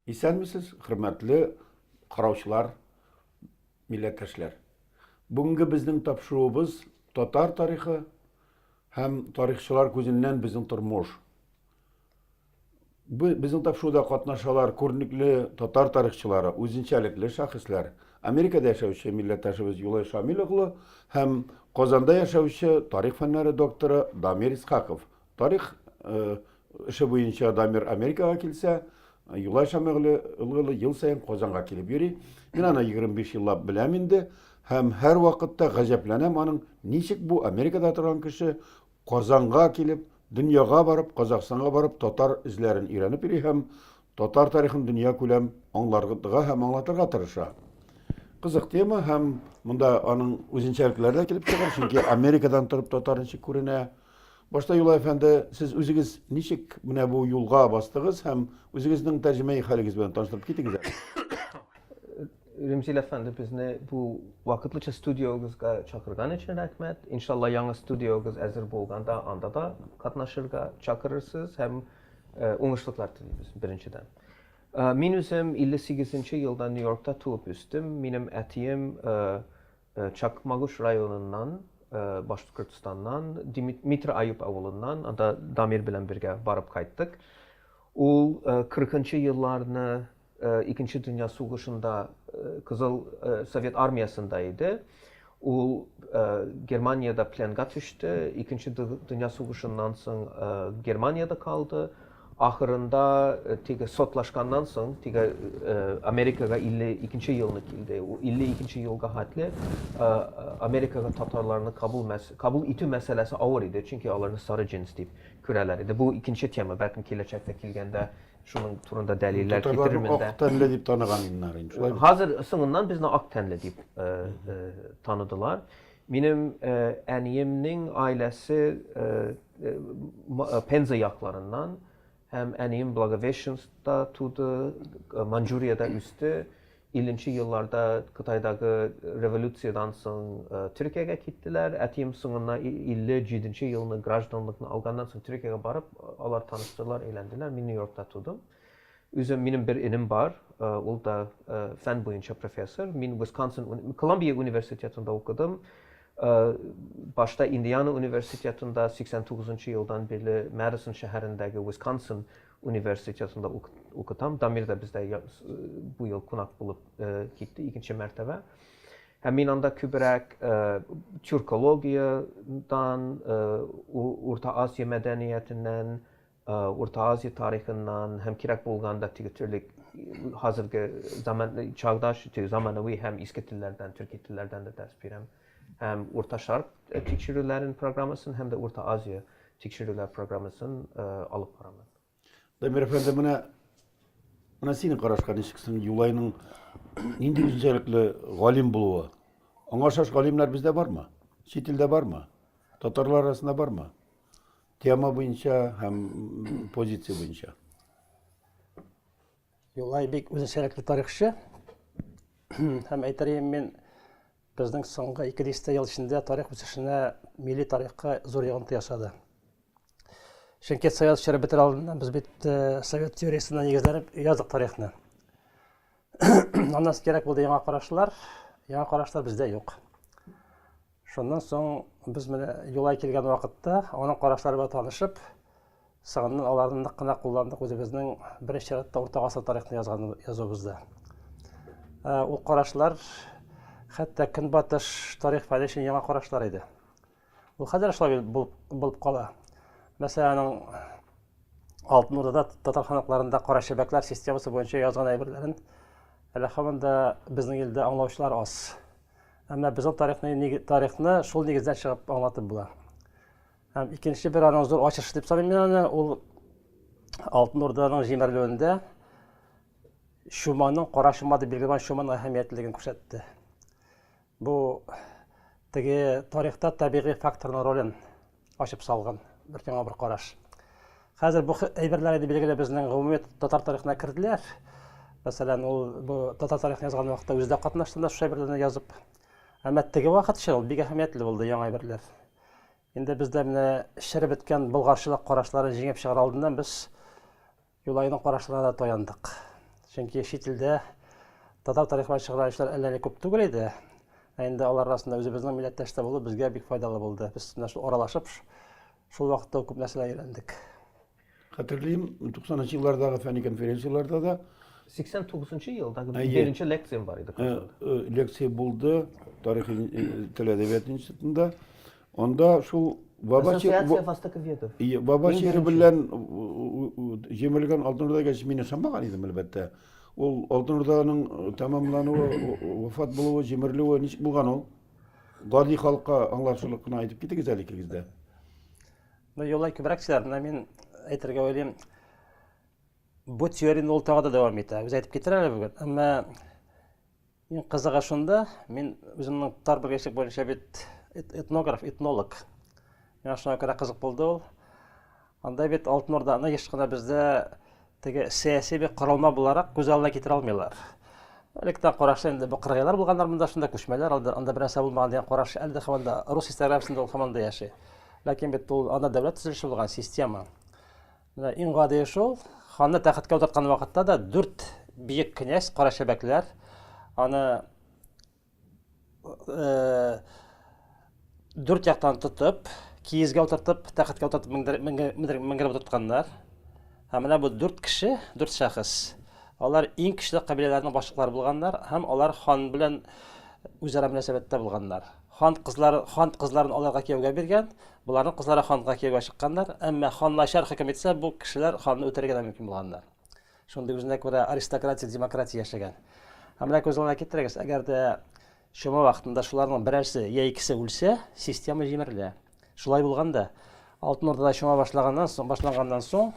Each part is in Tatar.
Исәнмесез, хөрмәтле караучылар, милләттәшләр. Бүгенге безнең тапшыруыбыз татар тарихы һәм тарихчылар күзеннән безнең тормыш. Безнең тапшыруда катнашалар күренекле татар тарихчылары, үзенчәлекле шәхесләр, Америкада яшәүче милләттәшебез Юлай Шамил углы һәм Казанда яшәүче тарих фәннәре докторы Дамир Исхаков. Тарих эше буенча Дамир Америкага килсә, Юлай Шамил углы ел саен Казанга килеп йөри. Мин аны 25 еллап беләм инде һәм һәрвакытта гаҗәпләнәм аның, ничек бу Америкада торган кеше Казанга килеп, дөньяга барып, Казахстанга барып татар эзләрен өйрәнеп йөри һәм татар тарихын дөньякүләм аңларга һәм аңлатырга тырыша. Кызык тема һәм монда аның үзенчәлекләре дә килеп чыгар, чөнки Америкадан торып татар ничек күренә. Башта Юлай әфәнде, сез үзегез ничек менә бу юлга бастыгыз һәм үзегезнең тәрҗемәи хәлегез белән таныштырып китегез әле. Ремзил әфәнде, безне бу вакытлыча студиогызга чакырган өчен рәхмәт. Иншалла, яңа студиогыз әзер булганда, анда да катнашырга чакырырсыз һәм уңышлыклар телибез, беренчедән. Мин үзем 58 нче елда Нью-Йоркта туып үстем. Минем әтием Чакмагыш районыннан, Башкортстаннан, Дмитро Аюп авылыннан, анда Дамир белән бергә барып кайттык. Ул 40 нчы елларны Икенче дөнья сугышында Кызыл Совет армиясендә иде. Ул Германиядә пленга төште. Икенче дөнья сугышыннан соң Германиядә калды. Ахырында теге сотлашканнан соң, теге Америкага 52-нче елны килде. Ул 52-нче елга хәтле Америкага татарларны кабул итү мәсьәләсе авыр иде, чөнки аларны сары джинс дип күрәләр иде. Бу икенче тема, бәлкем киләчәктә килгәндә Шуның турында дәлилләр китерермен дә. Ак тәнле дип таныган иннар инде. Шулай. Хәзер соңыннан безне ак тәнле дип э, э, таныдылар. Минем э, әниемнең аиләсе Пенза якларыннан һәм әнием Благовещенскта туды, Манчжуриядә үсте. Илленче елларда Кытайдагы революциядән соң Төркиягә киттеләр. Әтием соңыннан 57 нче елны гражданлыкны алганнан соң Төркиягә барып, алар таныштылар, өйләнделәр. Мин Нью-Йоркта тудым. Үзем, минем бер энем бар, ул да фән буенча профессор. Мин Висконсин, Колумбия университетында укыдым. Башта Индиана университетында, 89 нчы елдан бирле Мэдисон шәһәрендәге Висконсин Университетында укытам. Дамир да бездә бу ел кунак булып китте, икенче мәртәбә. Һәм мин анда күбрәк тюркологиядән, Урта Азия мәдәниятеннән, Урта Азия тарихыннан һәм кирәк булганда теге төрле хәзерге заман, чагдаш, заманауи һәм иске телләрдән, төрки телләрдән дә дәрес бирәм. Һәм Урта Шарк тикшерүләрен программасын һәм дә Урта Азия тикшерүләр программасын алып барабыз. Дамир әфәнде, менә Менә синең карашка ничек соң Юлайның нинди үзенчәлекле галим булуы? Аңа ошаш галимнәр бездә бармы? Чит илдә бармы? Татарлар арасында бармы? Тема буенча һәм позиция буенча. Юлай бик үзенчәлекле тарихчы. Һәм әйтерем мин безнең соңгы 200 ел эчендә тарих үсешенә, милли тарихка зур йогынты ясады. Чөнки совет чоры бетер алдыннан без бит э, совет теориясенә нигезләнеп яздык тарихны. Аннан кирәк булды яңа карашлар, яңа карашлар бездә юк. Шуннан соң без менә юлай килгән вакытта, аның карашлары белән танышып, соңыннан аларны нык кына кулландык үзебезнең беренче чиратта урта гасыр тарихны язган язуыбызда. Ә, ул карашлар хәтта көнбатыш тарих фәне өчен яңа карашлар иде. Ул хәзер шулай булып, булып кала. Мәсәлән, аның Алтын Урдада татар ханакларында кара чәбәкләр системасы буенча язган әйберләрен әле һаман да безнең илдә аңлаучылар аз. Әмма без ул тарихны, тарихны шул нигездән чыгып аңлатып була. Һәм икенче бер аның зур ачышы дип саныйм мин аны, ул Алтын Урданың җимерелүендә чуманың кара чума дип билгеләнгән чуманың әһәмиятлеген күрсәтте. Бу теге тарихта табигый факторның ролен Ачып салган бер яңа бер караш. Хәзер бу әйберләр инде билгеле безнең гомуми татар тарихына керделәр. Мәсәлән, ул бу татар тарихын язган вакытта үзе дә катнашты да шушы әйберләрне язып. Әмма теге вакыт өчен ул бик әһәмиятле булды яңа әйберләр. Инде бездә менә шире беткән болгарчылык карашларын җиңеп чыгар алдыннан без Юлайның карашына да таяндык. Чөнки чит илдә татар тарихы чыгарган эшләр әллә ни күп түгел иде. Ә инде алар арасында үзебезнең милләттәш тә булу безгә бик файдалы булды. Без менә шул аралашып, шул вакытта ук күп нәрсәләр өйрәндек. Хәтерлим, 90 нчы еллардагы фәнни конференцияләрдә дә 89 нчы елдагы беренче лекциям бар иде. Лекция булды тарих тел әдәбият институтында. Анда шул Бабачы Ассоциация востоковедов. Ие, Бабачы белән җимелгән Алтын Урда гәч мин ышанмаган идем, әлбәттә. Ул Алтын Урданың э, тәмамлануы, вафат булуы, җимерелүе ничек булган ул? Гади халыкка аңлашылып кына әйтеп китегез әле икегез дә. Ну, юлай күбрәк сөйләр, менә мин әйтергә уйлыйм. Бу теорияне ул тагы да дәвам итә. Үзе әйтеп китер әле бүген. Әмма Иң кызыгы шунда, мин үземнең тар белгечлек буенча бит этнограф, этнолог. Миңа шуңа күрә кызык булды ул. Анда бит Алтын Урданы еш кына бездә теге сәяси бер корылма буларак күз алдына китерә алмыйлар. Электрон карашта инде бу кыргыйлар булганнар монда шунда күчмәләр алды, анда бернәрсә булмаган дигән караш әле дә һаман да рус историографиясендә ул һаман да яши. Ләкин бит ул анда дәүләт төзелеше булган, система. Менә иң гадие шул, ханны тәхеткә утырткан вакытта да дүрт биек князь, кара чәбәкләр, аны дүрт яктан тотып, киезгә утыртып, тәхеткә утыртып менгереп утыртканнар. Һәм менә бу дүрт кеше, дүрт шәхес, алар иң көчле кабиләләрнең башлыклары булганнар һәм алар хан белән үзара мөнәсәбәттә булганнар. Хан кызлары хан кызларын аларга кияүгә биргән, боларның кызлары ханга кияүгә чыкканнар, әмма хан начар хөкем итсә, бу кешеләр ханны үтерергә дә мөмкин булганнар. Шундый үзенә күрә аристократик демократия яшәгән. Ә менә күз алдына китерегез, әгәр дә чума вакытында шуларның берәрсе я икесе үлсә, система җимерелә. Шулай булган да, Алтын Урдада чума башлаганнан соң, башланганнан соң,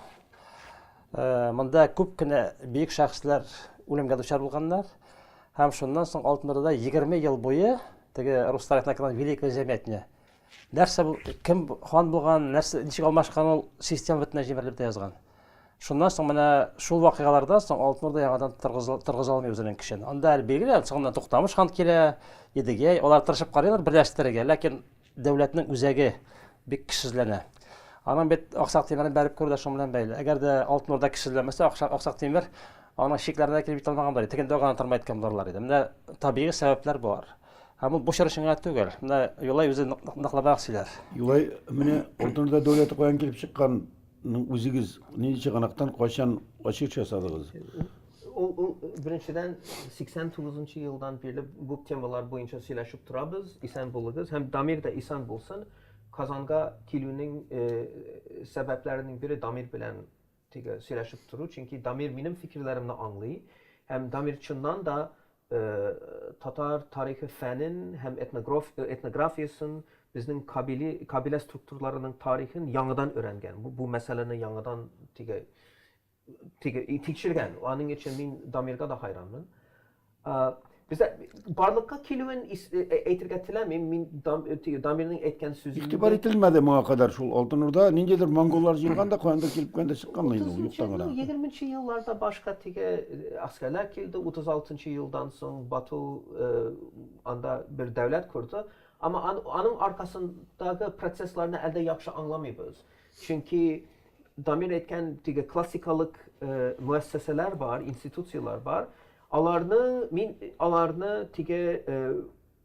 монда күп кенә бөек шәхесләр үлемгә дучар булганнар. Һәм шуннан соң Алтын Урдада 20 ел буе теге руслар ятына килгән Великое Заметне. Нәрсә бу, кем хан булган, нәрсә, ничек алмашкан ул система бөтенләй җимерелеп тә язган. Шуннан соң менә шул вакыйгалардан соң Алтын Урда яңадан торгыза алмый үзенең көчен. Анда әле билгеле, соңыннан Туктамыш хан килә, Едигәй, алар тырышып карыйлар берләштерергә, ләкин дәүләтнең үзәге бик кешесезләнә. Аның бит Аксак Тимерен бәреп күрү дә шуның белән бәйле. Әгәр дә Алтын Урда кешесезләмәсә, Аксак, Аксак Тимер аның чикләренә килеп җитә алмаган булыр. Тегендә гына тормай торган булырлар иде. Менә табигый сәбәпләр болар. Һәм ул бу чор өчен генә түгел. Менә Юлай үзе ныклабрак сөйләр. Юлай, менә Алтын Урда дәүләте каян килеп чыккан? Ну, үзегез нинди чыганактан кайчан ачыш ясадыгыз? Ул, ул беренчедән 89 елдан бирле бу темалар буенча сөйләшеп торабыз. Исән булыгыз һәм Дамир да исән булсын. Казанга килүнең э, сәбәпләренең бире Дамир белән теге сөйләшеп тору, чөнки Дамир минем фикерләремне аңлый һәм Дамир чыннан да Татар тарихы фәнен һәм этнографиясен, безнең кабилә структураларының тарихын яңадан өйрәнгән, бу мәсьәләне яңадан теге тикшергән. Аның өчен мин Дамирга да хайранмын. Бездә барлыкка килүен әйтергә теләмим, мин Дамирның әйткән сүзен. Игътибар ителмәде моңа кадәр шул Алтын Урда, ниндидер монголлар җыелган да, каяндыр килеп кенә дә чыкканмы инде ул, юктан гына. Утызынчы елның егерменче елларда башка теге Гаскәрләр килде 36 нчы елдан соң Бату анда бер дәүләт корды. Әмма аның аркасындагы процессларны әлдә яхшы аңламыйбыз. Чөнки Дамир әйткән теге классикалык мөәссәсәләр бар, институцияләр бар. Аларны мин аларны теге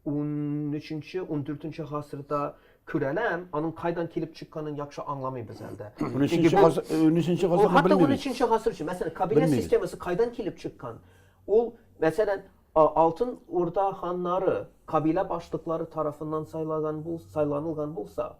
Унөченче, ундүртенче гасырда Күрәләм, аның кайдан килеп чыкканын яхшы аңламыйбыз әле дә. Чөнки бу Унөченче гасырны белмибез. Хәтта унөченче гасыр өчен, мәсәлән, кабилә системасы кайдан килеп чыккан? Ул, мәсәлән, Алтын Урда ханнары кабилә башлыклары тарафыннан сайлаган булса, сайланылган булса,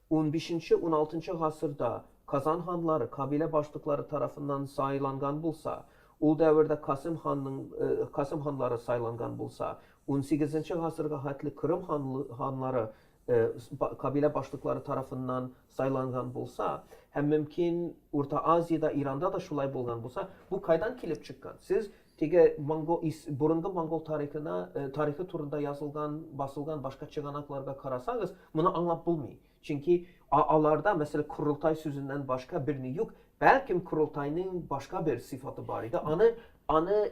унбишенче, уналтынчы гасырда Казан ханлары кабилә башлыклары тарафыннан сайланган булса, ул дәвердә Касыйм ханның, Касыйм ханлары сайланган булса, Унсигезенче гасырга хәтле Крым ханлы-ханлары кабилә башлыклары тарафыннан сайланган булса, һәм мөмкин Урта Азиядә, Иранда да шулай булган булса, бу кайдан килеп чыккан? Сез теге монгол ис борынгы монгол тарихына тарихы турында язылган, басылган башка чыганакларга карасагыз, моны аңлап булмый. Чөнки а аларда, мәсәлән, корылтай сүзеннән башка берни юк. Бәлкем корылтайның башка бер сыйфаты бар иде, аны аны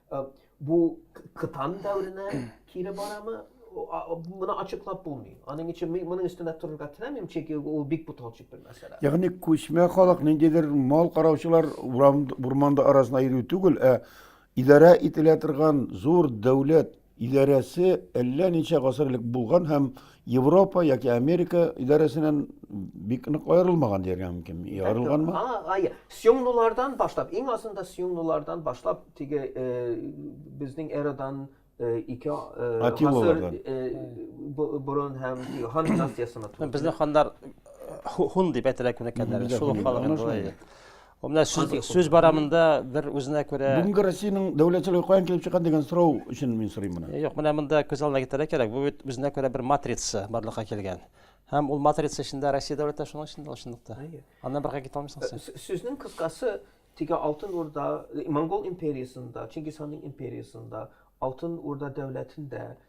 Бу кытан дәверенә кире барамы? Моны ачыклап булмый. Аның өчен моның өстенә торырга теләмим, чөнки ул бик буталчык бер мәсьәлә. Ягъни күчмә халык ниндидер мал караучылар урманда арасына йөрү түгел, ә идарә ителә торган зур дәүләт идарәсе әллә ничә гасыр элек булган һәм Европа яки Америка идарәсеннән бик нык аерылмаган дияргә мөмкин. Аерылганмы? Ага, сюңнулардан башлап, иң азында сюңнулардан башлап, теге э, безнең эрадан э, ике э, гасыр борын һәм хан династиясына туры. Безнең хандар хун дип әйтелә күнеккәннәр. Шул халык инде. Менә сүз, сүз бара монда бер үзенә күрә. Бүгенге Россиянең дәүләтчелеге каян килеп чыккан дигән сорау өчен мин сорыйм моны. Юк, менә монда күз алдына китерә кирәк. Бу бит үзенә күрә бер матрица барлыкка килгән. Һәм ул матрица эчендә Россия дәүләте шуның эчендә чынлыкта. Аннан бергә китә алмыйсың син. Сүзнең кыскасы теге Алтын Урда, Монгол империясында, Чингис ханның империясында, Алтын Урда дәүләтендә,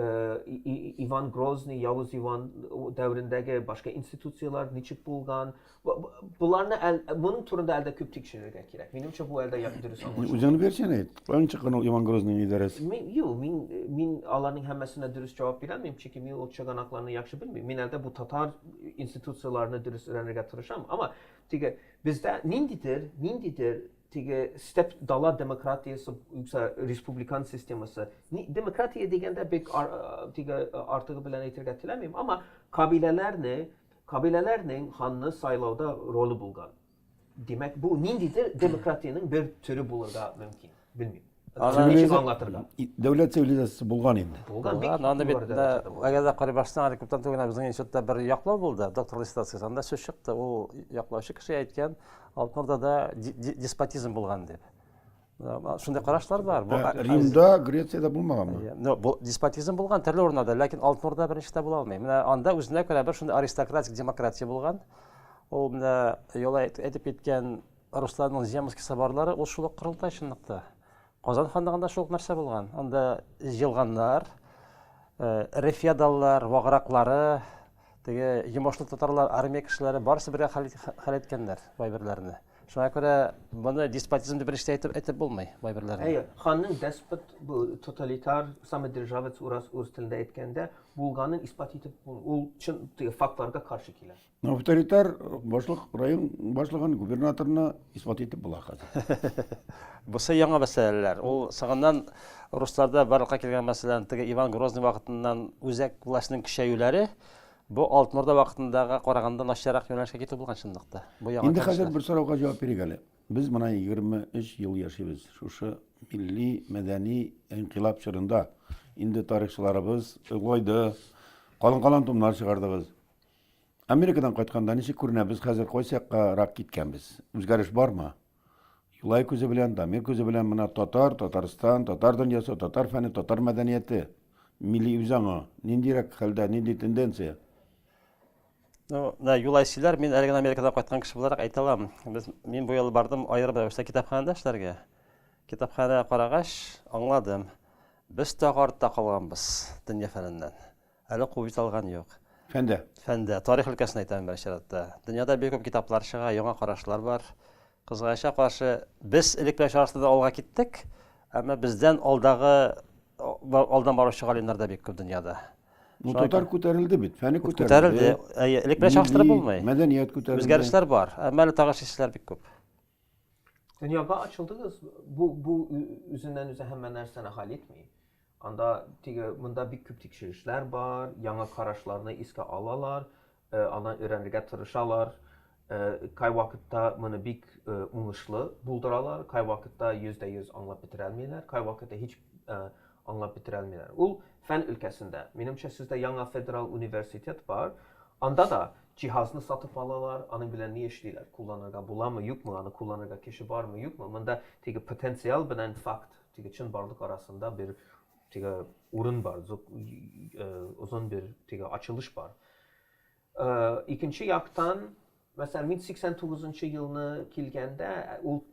Иван Грозный, Явыз Иван дәверендәге башка институцияләр ничек булган? Боларны моның турында әлдә күп тикшерергә кирәк. Минемчә, бу әлдә дөрес аңлашу. Үзеңне бирсен әйт. Каян чыккан ул Иван Грозныйның идарәсе? Мин, юк, мин, мин аларның һәммәсенә дөрес җавап бирә алмыйм, чөнки мин ул чыганакларны яхшы белмим. Мин әлдә бу татар институцияләрне дөрес өйрәнергә тырышам. Әмма теге бездә ниндидер, ниндидер Теге степ дала демократиясе юкса республикан системасы. Демократия дигәндә бик теге артыгы белән әйтергә теләмим, әмма кабиләләрне, кабиләләрнең ханны сайлауда роле булган. Димәк, бу ниндидер демократиянең бер төре булырга мөмкин. Белмим. Аны ничек аңлатырга? Дәүләт цивилизациясе булган инде. Булган бик. Анда бит әгәр дә карый башсаң, әле күптән түгел безнең институтта бер яклау булды, доктор диссертациясе. Анда сүз чыкты, ул яклаучы кеше әйткән, Алтынорда да деспотизм булган дип. Шундый карашлар бар. Бу ә, Римда, Грецияда булмаганмы? Ну, бу деспотизм булган төрле урыннарда, ләкин Алтынорда беренчедә була алмый. Менә анда үзенә күрә бер шундый аристократик демократия булган. Ул менә яла әйтеп киткән Русларның Земский соборлары ул шул ук корылтай чынлыкта. Казан ханлыгында шул ук нәрсә булган. Анда җылганнар, эре феодаллар, вагыраклары, теге йомышлы татарлар, армия кешеләре барысы бергә хәл иткәннәр бай берләрне. Шуңа күрә моны деспотизм дип беренче әйтеп әйтеп булмый бай берләрне. Әйе, ханның деспот бу тоталитар, самодержавец урас үз телендә әйткәндә булганын исбат итеп ул чын фактларга каршы килә. Ну, авторитар башлык район башлыгын губернаторына исбат итеп була хәзер. Бусы яңа мәсьәләләр. Ул сагыннан русларда барлыкка килгән мәсьәләләрне теге Иван Грозный вакытыннан үзәк властьның көчәюләре бу Алтын Урда вакытындагы караганда начаррак юнәлешкә китү булган чынлыкта. Бу яңа. Инде хәзер бер сорауга җавап бирик әле. Без моны 23 ел яшибез. Шушы милли, мәдәни инкыйлаб чорында инде тарихчыларыбыз олайды, калын-калын томнар чыгардыгыз. Америкадан кайтканда ничек күренәбез хәзер, кайсы якка рак киткәнбез? Үзгәреш бармы? Юлай күзе белән, Дамир күзе белән мына татар, Татарстан, татар дөньясы, татар фәне, татар мәдәнияте, милли үзаңы, ниндирәк хәлдә, нинди тенденция? Ну, да, Юлай сөйләр, мин әле генә Америкадан кайткан кеше буларак әйтә алам. Без, мин бу ел бардым аерым рәвештә китапханәдә эшләргә. Китапханә карагач, аңладым. Без тагы артта калганбыз дөнья фәненнән. Әле куып җитә алган юк. Фәндә. Фәндә. Тарих өлкәсен әйтәм мин беренче чиратта. Дөньяда бик күп китаплар чыга, яңа карашлар бар. Кызганычка каршы, без элек белән чагыштырганда алга киттек, әмма бездән алдагы алдан баручы галимнәр дә бик күп дөньяда. Ну, татар күтәрелде бит, фәне күтәрелде. Әйе, элек белән чагыштырып булмый. Мәдәният күтәрелде. Үзгәрешләр бар, әмма әле тагы шешеләр бик күп. Дөньяга ачылдыгыз, бу бу үзеннән үзе һәммә нәрсәне хәл итми. Анда теге монда бик күп тикшерешләр бар, яңа карашларны искә алалар, аннан өйрәнергә тырышалар. Кайвакытта моны бик уңышлы булдыралар, кайвакытта 100% аңлап бетерә алмыйлар, кайвакытта һич аңлап бетерә алмыйлар. Ул фән өлкәсендә. Минемчә, сездә яңа федераль университет бар, анда да җиһазны сатып алалар, аның белән ни эшлиләр, кулланырга буламы, юкмы, аны кулланырга кеше бармы, юкмы, монда теге потенциал белән факт Теге чынбарлык арасында бер теге урын бар, озын бер теге ачылыш бар. Икенче яктан, мәсәлән, мин 89 нчы елны килгәндә, ул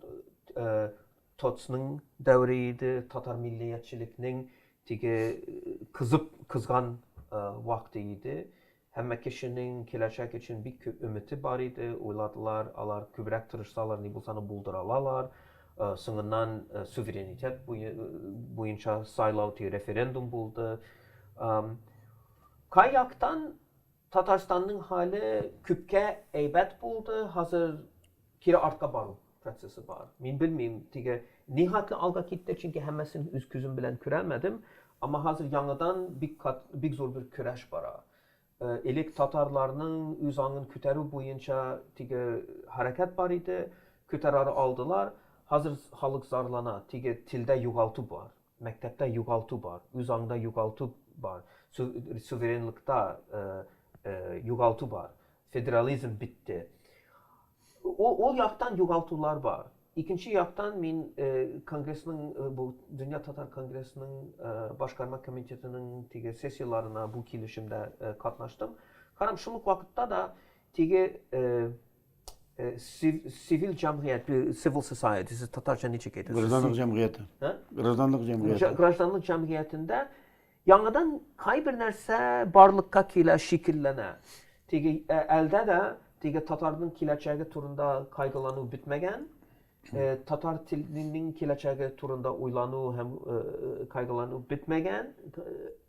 ТОЦның дәвере иде, татар миллиятчелекнең теге кызып кызган вакыты иде. Һәммә кешенең киләчәк өчен бик күп өмете бар иде, уйладылар, алар күбрәк тырышсалар, ни булса аны булдыра алалар. Соңыннан суверенитет буенча сайлау, теге референдум булды. Кай яктан Татарстанның хәле күпкә әйбәт булды, хәзер кире артка бару. процессы бар. Мин белмим, теге нихәтле алга китте, чөнки һәммәсен үз күзем белән күрәлмәдем. Әмма хәзер яңадан бик кат, бик зур бер көрәш бара. Элек татарларның үз аңын күтәрү буенча теге хәрәкәт бар иде, күтәрә алдылар. Хәзер халык зарлана, теге телдә югалту бар. Мәктәптә югалту бар, үз аңда югалту бар, суверенлыкта югалту бар, федерализм бетте. Ул яктан югалтулар бар. Икенче яктан мин конгрессның, бу Дөнья татар конгрессның башкарма комитетының теге сессияләренә бу килешемдә катнаштым. Карам, шул ук вакытта да теге Сивил җәмгыять, civil society, сез татарча ничек әйтәсез? Гражданлык җәмгыяте. Гражданлык җәмгыяте. Гражданлык җәмгыятендә яңадан кайбер нәрсә барлыкка килә, шикелләнә. Теге әлдә дә теге татарның киләчәге турында кайгылану бетмәгән. Татар теленең киләчәге турында уйлану һәм кайгылану бетмәгән.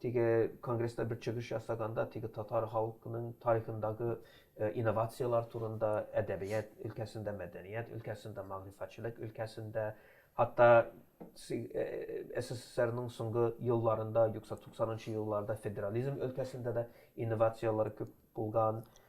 Теге конгресста бер чыгыш ясаганда, теге татар халкының тарихындагы инновацияләр турында, әдәбият өлкәсендә, мәдәният өлкәсендә, мәгърифәтчелек өлкәсендә, хәтта СССРның соңгы елларында, юкса 90 нчы елларда федерализм өлкәсендә дә инновацияләр күп булган,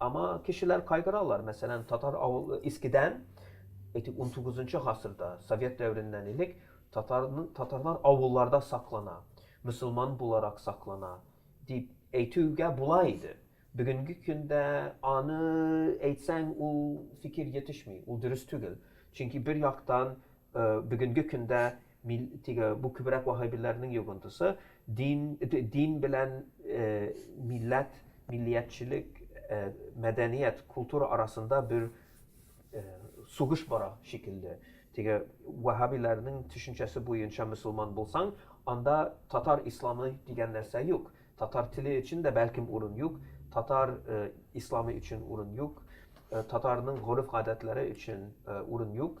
Аңа кешеләр кайгыралар. Мәсәлән, татар авыл искедән, әйтик, унтугызынчы гасырда, совет дәвереннән элек татарның татарлар авылларда саклана, мөселман буларак саклана, дип әйтүгә була иде. Бүгенге көндә аны әйтсәң, ул фикер йетешми, ул дөрес түгел. Чөнки бер яктан, бүгенге көндә Мил, тиге, бу күбрәк ваһһабиләрнең йогынтысы, дин, дин белән э, милләт, миллиятчелек, э, мәдәният, культура арасында бер э, сугыш бара шикелле. Теге ваһһабиләрнең төшенчәсе буенча мөселман булсаң, анда татар исламы дигән нәрсә юк. Татар теле өчен дә бәлкем урын юк, татар э, исламы өчен урын юк, э, татарның гореф-гадәтләре өчен э, урын юк.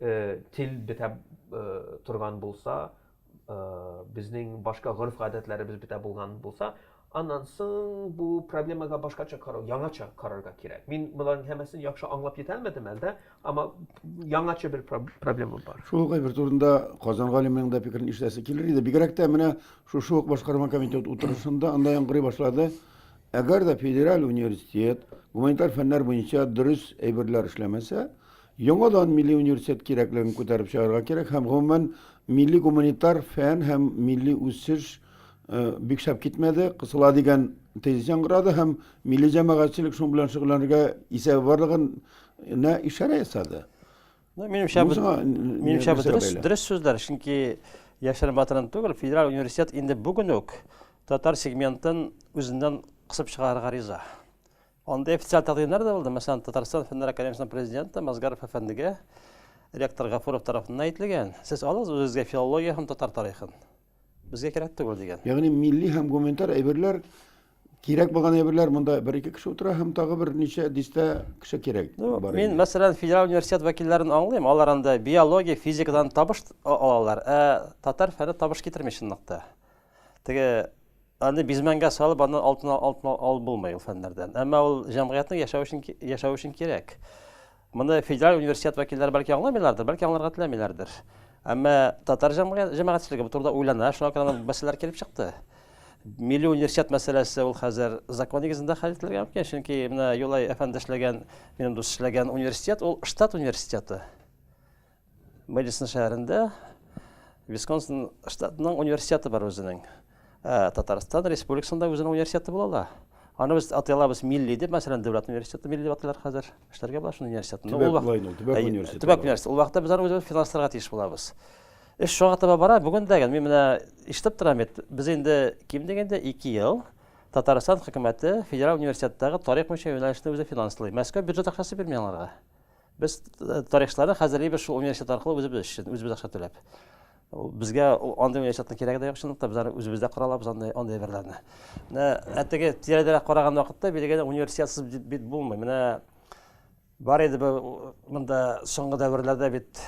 Тел бетә торган булса, безнең башка гореф-гадәтләребез бетә булган булса, аннан соң бу проблемага башкача карау, яңача карарга кирәк. Мин боларның һәммәсен яхшы аңлап җитә алмадым әлдә, әмма яңача бер проблема бар. Шул ук әйбер турында Казан галименең дә фикерен ишетәсе килер иде. Бигрәк тә менә шушы ук башкарма комитет утырышында анда яңгырый башлады. Әгәр дә федераль университет гуманитар фәннәр буенча дөрес әйберләр эшләмәсә, Яңадан милли университет кирәклеген күтәреп чыгарга кирәк һәм, гомумән, милли гуманитар фән һәм милли үсеш бик шәп китмәде, кысыла дигән тезис яңгырады һәм милли җәмәгатьчелек шуның белән шөгыльләнергә исәбе барлыгын нә ишарә ясады. Минемчә, минемчә дөрес, дөрес сүзләр, чөнки яшерен батырын түгел, федераль университет инде бүген үк татар сегментын үзеннән кысып чыгарырга риза. Анда официаль тәкъдимнәр дә булды. Мәсәлән, Татарстан фәннәр академиясенең президенты Мазгаров әфәндегә ректор Гафуров тарафыннан әйтелгән, сез алыгыз үзегезгә филология һәм татар тарихын. Безгә кирәк түгел дигән. Ягъни милли һәм гуманитар әйберләр кирәк булган әйберләр монда бер ике кеше утыра һәм тагы бер ничә дистә кеше кирәк. Ну, мин, мәсәлән, федераль университет вәкилләрен аңлыйм. Алар анда биология, физикадан табыш алалар, ә татар фәне табыш китерми чынлыкта. Теге аны бизмәнгә салып, аны алтын алтын алып булмый ул фәннәрдән. Әмма ул җәмгыятьнең яшәү өчен яшәү өчен кирәк. Моны федераль университет вәкилләре бәлки аңламыйлардыр, бәлки аңларга теләмиләрдер. Әмма татар җәмәгатьчелеге бу турыда уйлана, шуңа күрә мәсьәләләр килеп чыкты. Милли университет мәсьәләсе ул хәзер закон нигезендә хәл ителергә мөмкин, чөнки менә Юлай әфәнде эшләгән, минем дус эшләгән университет ул штат университеты. Мэдисон шәһәрендә Висконсин штатының университеты бар үзенең. Ә Татарстан республикасында үзенең университеты була ла. Аны без атый алабыз милли дип, мәсәлән, дәүләт университеты милли дип атыйлар хәзер. Эшләргә була шул университетны. Төбәк булай ул, төбәк университеты. Төбәк университеты. Ул вакытта без аны үзебез финансларга тиеш булабыз. Эш шуңа таба бара. Бүген дә мин менә ишетеп торам бит, без инде ким дигәндә 2 ел Татарстан хөкүмәте федераль университеттагы тарих буенча юнәлешне үзе финанслый. Мәскәү бюджет акчасы бирми аңарга. Без э, тарихчылары хәзерлибез шул университет аркылы үзебез өчен, үзебез акча түләп. Безгә андый университетның кирәге дә юк, чынлыкта без аны үзебездә кора алабыз андый андый әйберләрне. Менә әтеге тирәдәрәк караган вакытта билгеле университетсыз бит булмый. Менә бар иде бу монда соңгы дәверләрдә бит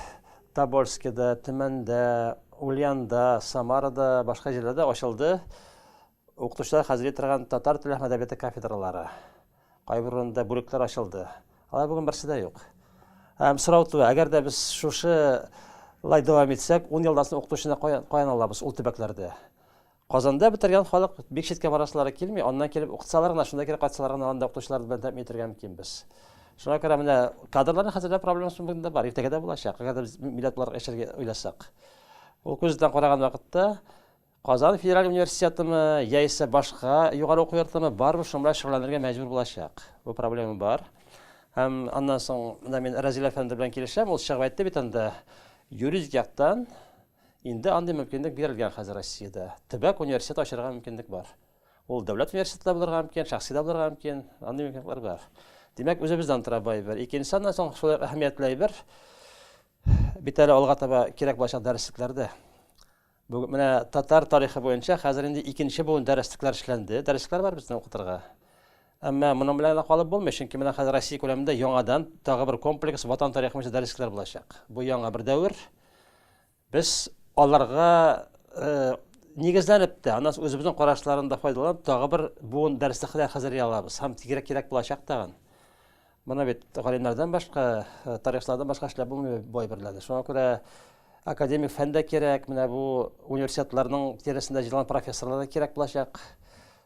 Тобольскида, Төмәндә, Ульянда, Самарада, башка җирләрдә ачылды. Укытучылар хәзерли торган татар теле һәм әдәбияты кафедралары, кайбер урында бүлекләр ачылды. Алар бүген берсе дә юк. Һәм сорау туа, әгәр дә без шушы лай дәвам итсәк, 10 елдан соң укытучыны каян алабыз ул төбәкләрдә? Казанда бетергән халык бик читкә барасылары килми, аннан килеп укытсалар гына, шунда кире кайтсалар гына анда укытучылар белән тәэмин итәргә мөмкин без. Шуңа күрә менә кадрларны хәзерләү проблемасы бүген дә бар, иртәгә дә булачак, әгәр дә без милләт буларак яшәргә уйласак. Ул күздән караган вакытта Казан федераль университетымы, яисә башка югары уку йортымы, барыбер шуның белән шөгыльләнергә мәҗбүр булачак. Бу проблема бар. Һәм аннан соң менә мин Разил әфәнде белән килешәм, ул чыгып әйтте бит анда, юридик яктан инде андый мөмкинлек бирелгән хәзер Россиядә. Төбәк университет ачарга мөмкинлек бар. Ул дәүләт университеты да булырга мөмкин, шәхси дә булырга мөмкин, андый мөмкинлекләр бар. Димәк, үзебездән тора бу әйбер. Икенче аннан соң шулай әһәмиятле әйбер, бит әле алга таба кирәк булачак дәреслекләрдә. Бүген менә татар тарихы буенча хәзер инде икенче буын дәреслекләр эшләнде. Дәреслекләр бар безнең укытырга. Әмма моның белән калып булмый, чөнки менә хәзер Россия күләмендә яңадан тагы бер комплекс ватан тарихы буенча дәреслекләр булачак. Бу яңа бер дәвер. Без аларга э, нигезләнеп тә, аннан үзебезнең карашларында файдаланып, тагы бер буын дәреслекләр хәзерли алабыз. Һәм тигрәк кирәк булачак тагын. Моны бит галимнәрдән башка, э, тарихчылардан башка эшләп булмый бай берләде. Шуңа күрә академик фән дә кирәк, менә бу университетларның тирәсендә җыелган профессорлар да кирәк булачак.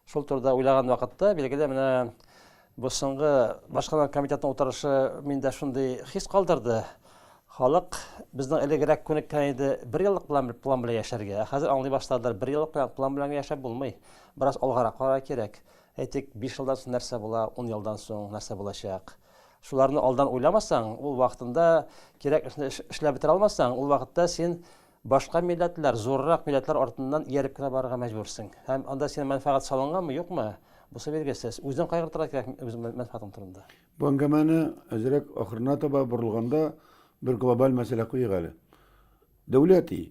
Шул турыда уйлаган вакытта, билгеле, менә бу соңгы башкарма комитетның утырышы миндә шундый хис калдырды. Халык безнең элегрәк күнеккән иде, бер еллык план, план белән яшәргә. Хәзер аңлый башладылар, бер еллык план белән яшәп булмый. Бераз алгарак карар кирәк. Әйтик, биш елдан соң нәрсә була, ун елдан соң нәрсә булачак? Шуларны алдан уйламасаң, ул вакытында кирәк эшне эшләп бетерә алмасаң, ул вакытта син башка милләтләр, зуррак милләтләр артыннан ияреп кенә барырга мәҗбүрсең. Һәм анда синең мәнфәгать салынгамы, юкмы? Бусы билгесез. Үзең кайгыртырга кирәк үз мәнфәгатең турында. Бу әңгәмәне әзрәк ахырына таба борылганда, бер глобаль мәсьәлә куйыйк әле. Дәүләт и.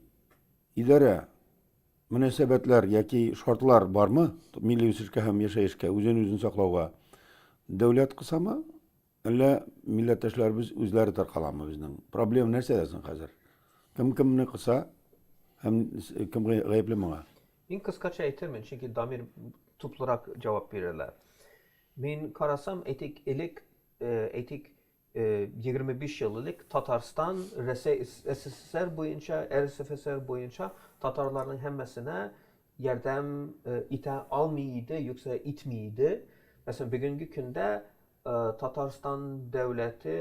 Идарә, мөнәсәбәтләр яки шартлар бармы милли үсешкә һәм яшәешкә, үзен-үзен саклауга? Дәүләт кысамы, әллә милләттәшләребез үзләре таркаламы безнең? Проблема нәрсәдә соң хәзер? Кем кемне кыса һәм кем гаепле моңа? Мин кыскача әйтермен, чөнки Дамир туплырак җавап бирерләр. Мин карасам, әйтик, элек, әйтик, 25 ел элек Татарстан Рәсәй СССР буенча, РСФСР буенча татарларның һәммәсенә ярдәм итә алмый иде, юкса итми иде. Мәсәлән, бүгенге көндә Татарстан дәүләте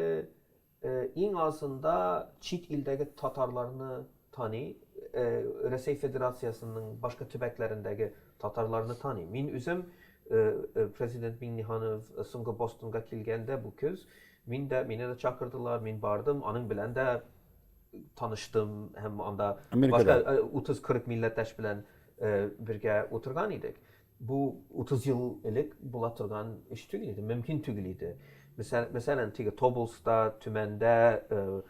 иң азында чит илдәге татарларны Таный, Рәсәй Федерациясенең башка төбәкләрендәге татарларны таный. Мин үзем Президент Миңнеханов соңгы Бостонга килгәндә бу көз, мин дә, мине дә чакырдылар, мин бардым, аның белән дә таныштым һәм анда башка 30-40 милләттәш белән бергә утырган идек. Бу 30 ел элек була торган эш түгел иде, мөмкин түгел иде. Мәсәлән, теге Тоболста, Төмәндә,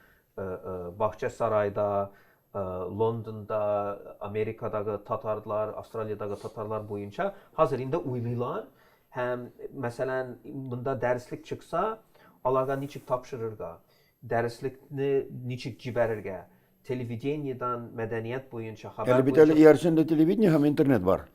Бакча сарайда, Лондонда, Америкадагы татарлар, Австралиядагы татарлар буенча хәзер инде уйлыйлар һәм, мәсәлән, монда дәреслек чыкса, аларга ничек тапшырырга, дәреслекне ничек җибәрергә, телевидениедан мәдәният буенча хәбәр буенча. Әле бит әле иярчәндә телевидение һәм интернет бар.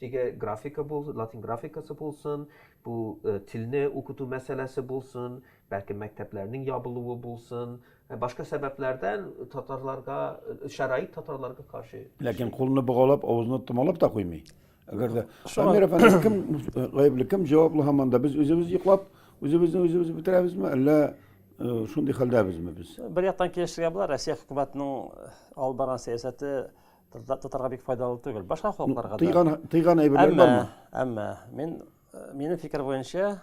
Теге графика бул, латин графикасы булсын, бу телне укыту мәсьәләсе булсын, бәлки мәктәпләрнең ябылуы булсын, башка сәбәпләрдән татарларга шәрайт татарларга каршы. Ләкин кулны богаулап, авызны томалап та куймый. Әгәр дә Шамир әфәнде кем гаепле, кем җаваплы һаман да без үзебез йоклап, үзебезне үзебез бетерәбезме, әллә шундый хәлдәбезме без? Бер яктан килешергә була, Россия хөкүмәтенең алып барган сәясәте Татарга бик файдалы түгел. Башка халыкларга да. Тыйган тыйган әйберләр бармы? Әмма мин э, минем фикер буенча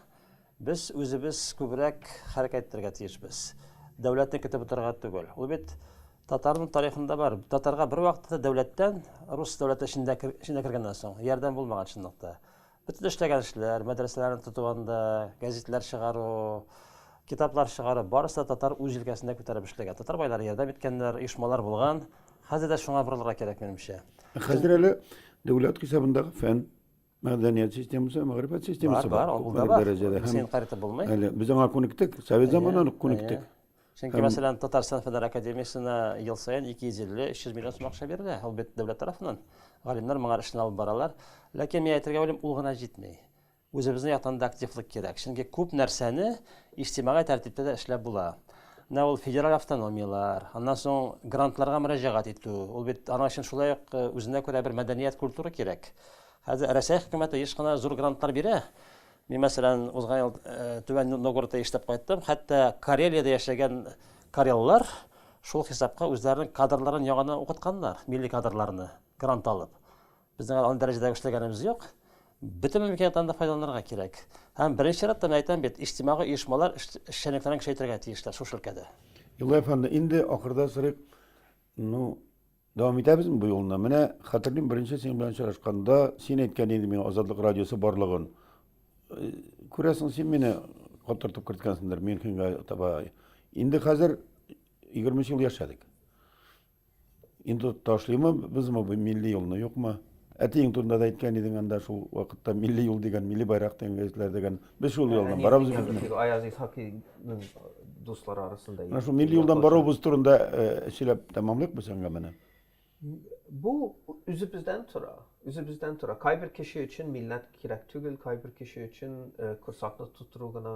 без үзебез күбрәк хәрәкәт итәргә тиешбез. Дәүләтне көтеп утырырга түгел. Ул бит татарның тарихында бар. Татарга бер вакытта дәүләттән рус дәүләте эчендә эчендә кергәннән соң ярдәм булмаган чынлыкта. Бөтен эшләгән эшләр, мәдрәсәләрне тоту анда, гәзитләр чыгару, китаплар чыгару, барысы да татар үз җилкәсендә күтәреп эшләгән. Татар байлары ярдәм иткәннәр, оешмалар булган. Хәзер дә шуңа борылырга кирәк, минемчә. Хәзер әле дәүләт хисабындагы фән, мәдәният системасы, мәгърифәт системасы бар. Бар, бар, ул да бар. Дәрәҗәдә. Без һәм инкарь итеп булмый. Әле без аңа күнектек, совет заманнан ук күнектек. Чөнки, Һәм... мәсәлән, Татарстан фәннәр академиясенә ел саен 250-300 миллион сум акча бирелә. Ул бит дәүләт тарафыннан. Галимнәр моңа эшне алып баралар. Ләкин мин әйтергә уйлыйм, ул гына җитми. Үзебезнең яктан да активлык кирәк. Чөнки күп нәрсәне иҗтимагый тәртиптә дә эшләп була. Менә ул федераль автономияләр, аннан соң грантларга мөрәҗәгать итү. Ул бит аның өчен шулай ук э, үзенә күрә бер мәдәният культура кирәк. Хәзер Рәсәй хөкүмәте еш кына зур грантлар бирә. Мин, мәсәлән, узган ел Түбән Новгородта эшләп кайттым. Хәтта Карелиядә яшәгән кареллар шул хисапка үзләренең кадрларын яңадан укытканнар, милли кадрларны грант алып. Безнең андый дәрәҗәдә эшләгәнебез юк. Бөтен мөмкинлекләрдән дә файдаланырга кирәк. Һәм беренче чиратта мин әйтәм бит, иҗтимагый оешмалар эшчәнлекләрен көчәйтергә тиешләр шушы өлкәдә. Юлай әфәнде, инде ахырда сорыйк, ну, Дәвам итәбезме бу юлны? Менә хәтерлим, беренче синең белән очрашканда син әйткән идең миңа Азатлык радиосы барлыгын. Э, күрәсең, син мине катыртып керткәнсеңдер Мюнхенга таба. Инде хәзер 23 ел яшәдек. Инде ташлыймы безме бу милли юлны, юкмы? Әтиең турында да әйткән идең анда шул вакытта милли юл дигән, милли байрак дигән гәзитләр дигән. Без шул юлдан барабыз бит. Аяз Исхакиның дуслары арасында. Менә шул милли юлдан баруыбыз турында сөйләп тәмамлыйк без әңгәмәне. Бу үзебездән тора. Үзебездән тора. Кайбер кеше өчен милләт кирәк түгел, кайбер кеше өчен корсакны тутыру гына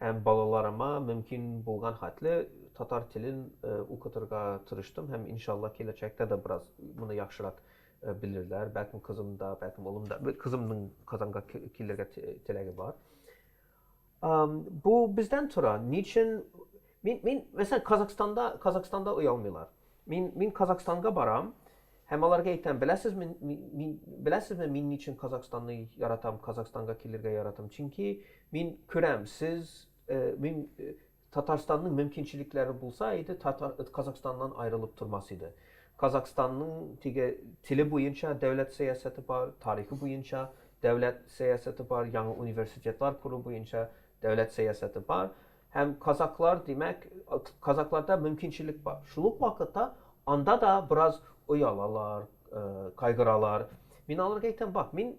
Һәм балаларыма мөмкин булган хәтле татар телен укытырга тырыштым һәм иншалла киләчәктә дә бераз моны яхшырак белерләр, бәлкем кызым да, бәлкем улым да, кызымның Казанга килергә теләге бар. Бу бездән тора, ни өчен мин, мәсәлән, Казахстанда, Казахстанда оялмыйлар. Мин, мин Казахстанга барам, Һәм аларга әйтәм, беләсезме, мин, беләсезме, мин ничен Казахстанны яратам, Казахстанга килергә яратам? Чөнки мин күрәм, сез, мин, Татарстанның мөмкинчелекләре булса иде, Татар, Казахстаннан аерылып тормас иде. Казахстанның теге теле буенча дәүләт сәясәте бар, тарихы буенча дәүләт сәясәте бар, яңа университетлар кору буенча дәүләт сәясәте бар. Һәм казаклар, димәк, казакларда мөмкинчелек бар. Шул ук вакытта анда да бераз оялалар, кайгыралар. Мин аларга әйтәм, бак, мин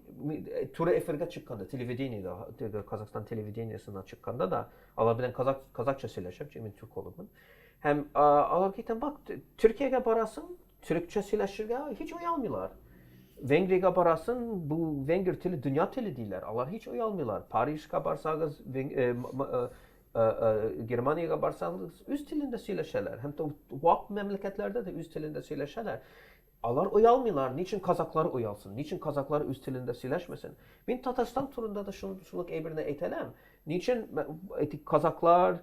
туры эфирга чыкканда, телевидениедә, теге Казахстан телевидениесенә чыкканда да, алар белән казак, казакча сөйләшәм, чөнки мин түркологмын. Һәм аларга әйтәм, бак, Төркиягә барасың, Төрекчә сөйләшергә һич оялмыйлар. Венгриягә барасын, бу венгер теле дөнья теле диләр. Алар һич оялмыйлар. Парижка барсагыз, Германиягә барсагыз, үз телендә сөйләшәләр. Һәм вак мәмләкәтләрдә дә үз телендә сөйләшәләр. Алар оялмыйлар. Ни өчен казаклар оялсын? Ни өчен казаклар үз телендә сөйләшмәсен? Мин Татарстан турында да шул шул әйберне әйтәләм. Ни өчен казаклар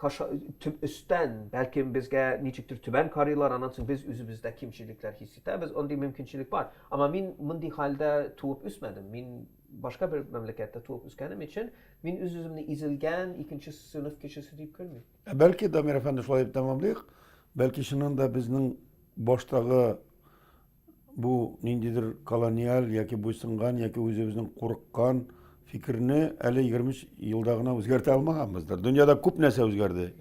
Каша, төп өстән, бәлкем безгә ничектер түбән карыйлар, аннан соң без үзебездә кимчелекләр хис итәбез, андый мөмкинчелек бар. Ама мин мондый хәлдә туып үсмәдем. Мин башка бер мәмләкәттә туып үскәнем өчен, мин үз-үземне изелгән икенче сыйныф кешесе дип күрмим. Ә бәлки, Дамир әфәнде, шулай дип тәмамлыйк, бәлки чыннан да безнең баштагы бу ниндидер колониаль яки буйсынган яки үзебезнең курыккан фикерне әле 23 елда гына үзгәртә алмаганбыздыр. Дөньяда күп нәрсә үзгәрде.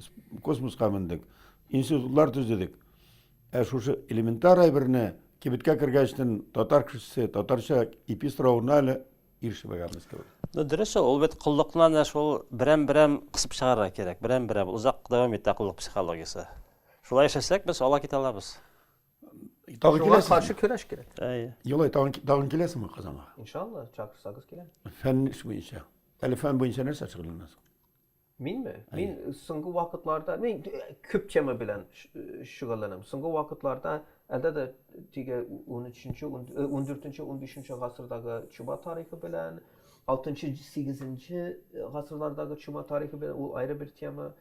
Космоска мендек, институтлар төзедек. Ә шушы элементар әйберне кибеткә кергәчтен татар кешесе татарча эпистравына әле ирешмәгәнбез кебек. Ну, дөрес ул, ул бит коллыкны да шул берәм-берәм кысып чыгарырга кирәк. Берәм-берәм озак дәвам итә коллык психологиясе. Шулай эшләсәк, без ала китә алабыз. Тагын Шуңа киләсезме? каршы көрәш кирәк. Әйе. Елай, тагын, тагын киләсезме Казанга? Иншалла, чакырсагыз киләм. Фән буенча. Әле фән буенча нәрсә шөгыльләнәсең? Минме? Мин соңгы вакытларда, мин э, күп тема белән ш- э, шөгыльләнәм. Соңгы вакытларда әлдә дә теге 13-нче, 14-нче, 15-нче гасырдагы чума тарихы белән, 6-нчы, 8-нче гасырлардагы чума тарихы белән, ул аеры бер тема.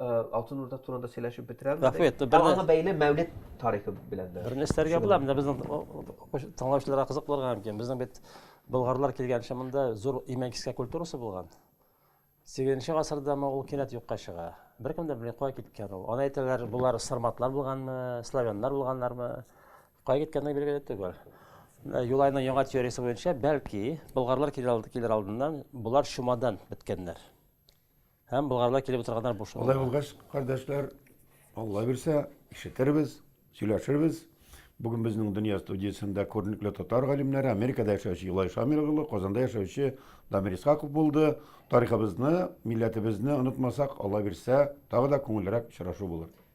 Алтын Урда турында сөйләшеп бетерәм. Рәхмәт. Аңа бәйле Мәүлид тарихы белән дә. Берне эшләргә була, менә безнең тыңлаучыларга кызык булырга мөмкин. Безнең бит болгарлар килгәнче монда зур имәнкискә культурасы булган. 8 гасырда ма ул кинәт юкка чыга. Беркем дә белми кая киткән ул. Аны әйтәләр, болар сарматлар булганмы, славяннар булганнармы? Кая киткәнлеге билгеле түгел. Юлайның яңа теориясе буенча, бәлки, болгарлар килер алдыннан болар чумадан беткәннәр. Һәм Болгарда килеп утырганнар буш Алай калды. булгач, кардәшләр, Алла бирсә, ишетербез, сөйләшербез. Бүген безнең Дөнья студиясендә күренекле татар галимнәре, Америкада яшәүче Илай Шамил улы, Казанда яшәүче Дамир Исхаков булды. Тарихыбызны, милләтебезне онытмасак, Алла бирсә, тагы да күңеллерәк очрашу булыр.